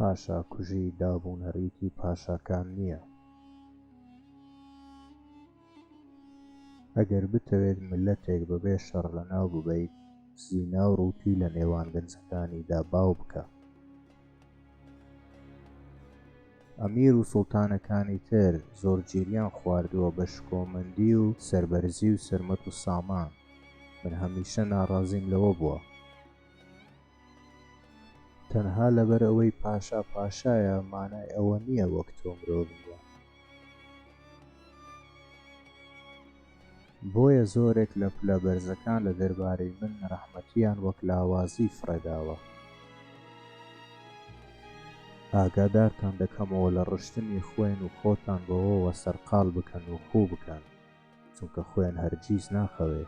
پاشاکوژی دابونەریتی پاشاکان نییە ئەگەر بتەوێت ملەتێک بەبێ شەڕ لەناو ببەیت زینا و ڕووتی لە نێوان گەنجەکانیدا باو بکە ئەمیر و سوڵتانەکانی تر زۆر گیریان خواردووە بە شکۆمەندی و سەربەرزی و سەرمەت و سامان. من هەمیشە ناڕازیم لەوە بووە. تەنها لەبەر ئەوەی پاشا پاشایە مانای ئەوە نییە وەک تۆ مرۆڤ نییە. بۆیە زۆرێک لە پلە بەرزەکان لە دەربارەی من نەرەحمەتییان وەک لاوازی فڕێداوە. ئاگادارتان دەکەمەوە لە ڕشتنی خوێن و خۆتان بەوەوە سەرقاڵ بکەن و خوو بکەن، چونکە خوێن هەرگیز ناخەوێ.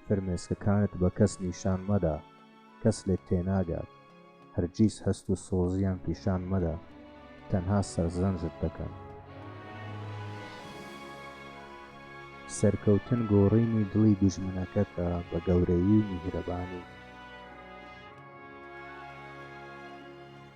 فرمێسکەکانت بە کەس نیشان مەدە، کەس لێت تێناگات. هەرگیز هەست و سۆزیان پیشان مەدە، تەنها سەرزەنشت دەکەن. سەرکەوتن گۆڕینی دڵی دوژمنەکەتە بە گەورەیی و میهرەبانی.